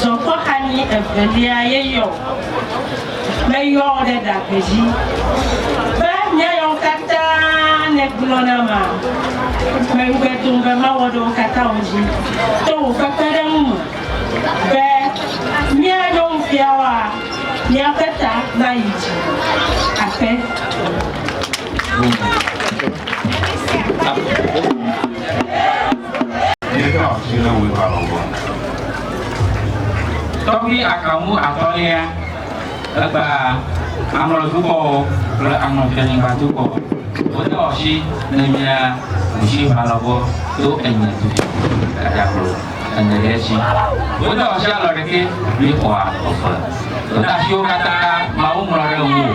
Zɔ kpɔ xanyi evelia ye yɔ o. Meyɔ wò ɖe ɖagbe dzi be míayɔ nu katã nègblɔ nam a? Meŋugbe tom be mawɔ ɖe wo katã wo dzi to wò kpekpeɖeŋu me be míanyo nufiawoa? Míaƒe ta nayi dzi akpe. Míeɖo asi ɖe wò ta lɔlɔ̃ ŋu. Tɔgbi akamu atɔ̃lia, Egba Amɔr dukɔwo kple Amɔn fianyigba dukɔ, wodo asi ne mía ɖusi va lɔbɔ to enye dukɔ, Gadaglo, ene ɖe edzi. Wodo asi alɔ ɖekɛ, míexɔ afɔ. Wò ɖe asiwo katã, Mawu ŋlɔ ɖe ŋuwò.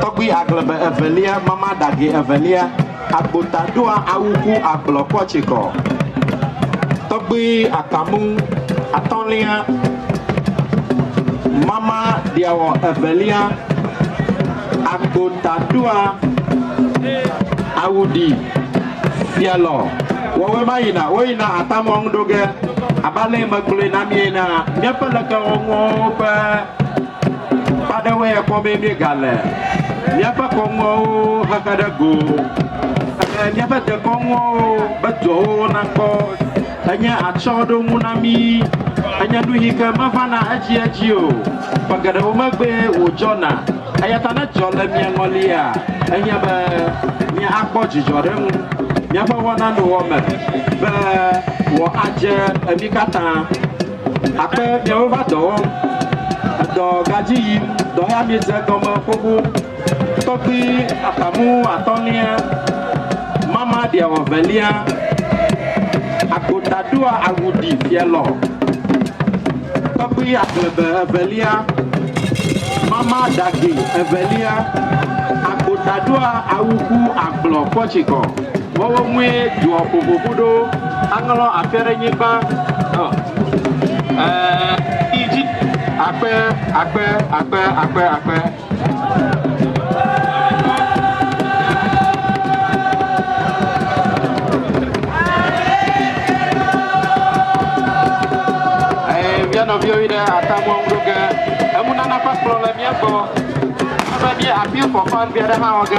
Tɔgbui Agblebe Evelia Mama Ɖahi Evelia Agbota ɖoa awu ku agblɔ kpɔ tsikɔ Tɔgbui Akamu Atɔlia Mama Ɖiawɔ Evelia Agbota ɖoa awu ɖi Fialɔ Wɔwɔe ma yina wo yina atamɔ ŋu ɖo ge abe ale yi megblɔe na mie na miaƒe lekewɔnuwo ƒe Akpa aɖewoe ya kpɔ be míegale míaƒe kɔnuawo xexe ɖe go. Eye míaƒe dekɔnuawo ƒe dɔwo nakpɔ enye atsyɔ̃ɖonu na mí. Enye nu yi ke mevana edziedzi o. Ƒe geɖewo megbee wòdzɔna. Eya ta ne dzɔ le mia ŋɔlia, enye be míakpɔ dzidzɔ ɖe eŋu. Míaƒe wɔnanowɔme be wòadze mí katã. Akpe miawo va dɔ wɔm, edɔ gadzi yim, dɔ ya miedze egɔme xoxo. Tɔkpui aƒamu atɔ̃lia, mama ɖiawɔ velia, agota ɖoa awu ɖi fialɔ. Tɔkpui aƒlebe evelia, mama ɖage evelia, agota ɖoa awu ku agblɔ kpɔtsikɔ. Wɔwɔ ŋue doɔ ƒoƒoƒo ɖo. Aŋlɔ aƒe ɖe nyigba. Idzi akpe akpe akpe akpe akpe. Via nɔviwo yi ɖe atamɔ ŋu ge. Emunana ƒe kplɔ le mía gbɔ. Ebe mía appeal for fund ɖe hã wɔ ge.